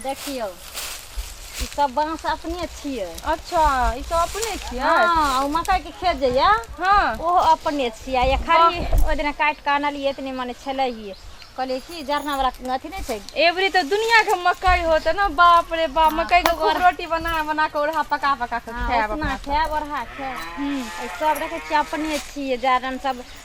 देखियौ ई सब बाँस अपने छियै अच्छा ई सब अपने छियै हाँ मकई के खेत जे ये हाँ ओहो अपने छियै ये खाली ओहि दिन काटि कऽ आनलियै इतने मने छलैये कहलियै कि जरना वाला अथी नहीं छै एवरी तो दुनिया के मकई होते ना बाप रे बाप हाँ, मकई के खूब रोटी बना बना के ओढ़ा पका पका के हाँ, खाए अपना खाए ओढ़ा खाए हम्म। सब देखे छियै अपने छियै जरन सब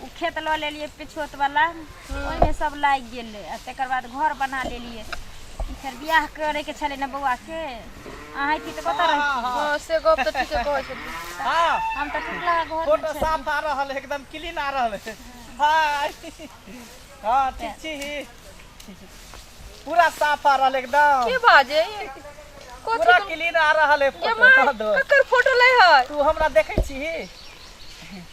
ओ खेत लऽ लेलियै पिछोतवला ओहिमे सब लागि गेलै आ तकर बाद घर बना लेलियै फेर बियाह करैके छलै ने बौआके अहाँ अइती तऽ कतऽ रहिती हँ से गप तऽ ठीके कहै छथिन हाँ हम तऽ टुकला घरमे फोटो छलियै। साफ आ रहल है एकदम क्लीन आ रहल है हाय हाँ ठीक छी पूरा साफ आ रहल है एकदम की बाजे कथी पूरा क्लीन आ रहल है ये फोटो माय हाँ दो। ककर फोटो लै है तू हमरा देखै छी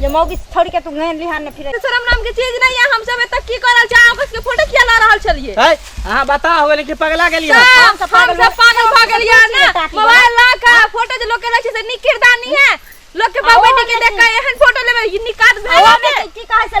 जे मौगी छोड़ के तू गहन लिहान ने फिरे शर्म नाम के चीज नहीं है हम सब तक की करल जा ओकस के फोटो किया ला रहल छलिए है हां बता हो लेकिन पगला गेली है हम सब पागल भ गेलिया ना मोबाइल ला का फोटो जे लोग के रखे से निक किरदानी है लोग के बाबा के देख के एहन फोटो लेबे निकात भेल की कहे से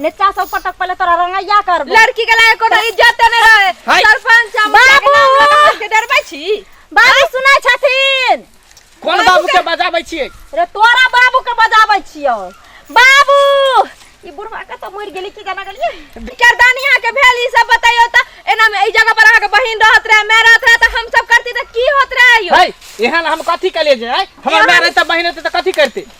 नेता सब पटक पहले तोरा रंगैया करबो लड़की के लायक कोनो इज्जत नहीं रहे हाय। सरपंच हम बाबू! बाबू के डरबै छी बाबू सुनै छथिन कोन बाबू के बजाबै छियै रे तोरा बाबू के बजाबै छियो बाबू ई बुढ़वा के तो मर गेली की जाना गेलिए करदानी यहाँ के भेल ई सब बताइयो त एना में ई जगह पर अहाँ के बहिन रहत रहे मैं रहत रहे त हम सब करती त की होत रहे यो हाय एहन हम कथी के ले जाय हमर माय रहते बहिन रहते तऽ कथी करते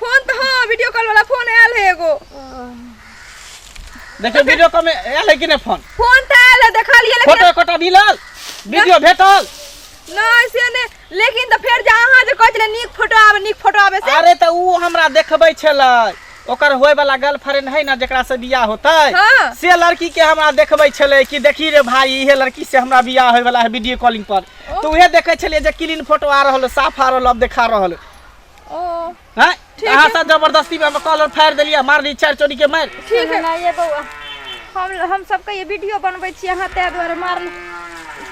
फोन तो हाँ वीडियो कॉल वाला फोन आयल है एगो देखियो वीडियो कॉल में आयल है कि नहीं फोन फोन तो आयल है देखा लिए लेकिन फोटो कोटा मिलल वीडियो भेटल नहीं से ने लेकिन तो फिर जा अहाँ जे कहै छलै नीक फोटो आवे नीक फोटो आवे से अरे तो ऊ हमरा देखबै छलै ओकर होय वाला गर्लफ्रेंड है ना जेकरा से बियाह होते हाँ। से लड़की के हमरा देखबै छलै कि देखी रे भाई इहे लड़की से हमरा बियाह होय वाला है वीडियो कॉलिंग पर तो उहे देखै छलियै जे क्लीन फोटो आ रहल साफ आ रहल अब देखा रहल ओ हैं ठीक अहाँ सब जबरदस्ती में हम कॉलर फाड़ देलिए मार दी चार चोरी के मार ठीक है ना ये बउआ हम हम सबके ये वीडियो बनबै छी अहाँ तै द्वारा मार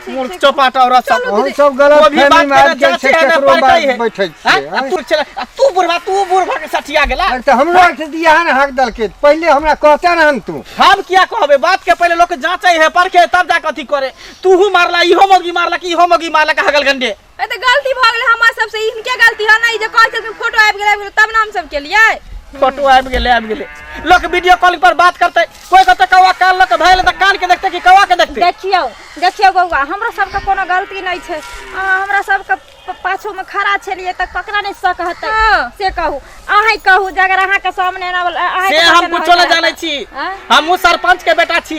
मूर्ख चौपाट और सब चलू हम सब गलत वो भी बात फहमी में आबि करना जाए छै चाहते हैं, केकरो पढ़ते बात हैं। बैठे हैं? छियै आ तू चला आ तू बुढ़वा तू बुढ़वा के सठिया गेला अरे तऽ हमरो आर से दिया ने हक दलके पहिले हमरा कहते ने हम तू हम किया कहबे बात के पहले लोग जांचे है परखे तब जाके अथी करे तू हूं मारला इहो मोगी मारला कि इहो मोगी मारला का हगल गंडे ए तऽ गलती भऽ गेलै हमरा सबसँ ई हिनके गलती है ने ई जे कहै छलखिन फोटो आबि गेलै आबि गेलै तब ने हम सब केलियै फोटो आबि गेलै आबि गेलै लोक वीडियो कॉलिंग पर बात करतै कोई कहतै कौआ कान लऽ के भैल तऽ कान के देखतै कि कौआ के देखतै देखियौ देखियौ बौआ हमरा सबके कोनो गलती नहि छै अहाँ हमरा सबके प- पाछूमे खड़ा छलियै तऽ ककरा नहि सक हेतै हँ। से कहू अहीं कहू जे अगर अहाँके सामने एना बला- अहाँके से सामने हम एना कुछो नहि बला- जानै छी आँय? हमहूँ सरपंच के बेटा छी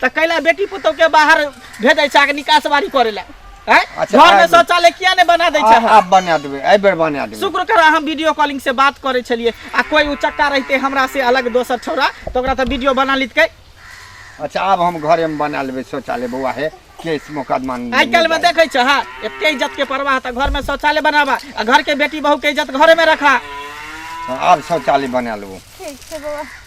त कैला बेटी पुतौ के बाहर भेजै छै आके निकास बारी करे ला हैं अच्छा, घर में आबि। शौचालय किया ने बना दै छै आ- आब बना देबै एहि बेर बना देबै शुक्र कर हम वीडियो कॉलिंग से बात करे छलिए आ कोई उचक्का रहते हमरा से अलग दोसर छोरा तो ओकरा त वीडियो बना लितकै अच्छा आब हम घरे में बना लेबै शौचालय बौआ हे केस मुकदमा नहि आइ काल्हि में जाय। देखै छ हा एते इज्जत के परवाह त घर में शौचालय बनाबा आ घर के बेटी बहू के इज्जत घरे में रखा हाँ, आब शौचालय बना लेबौ ठीक छै बौआ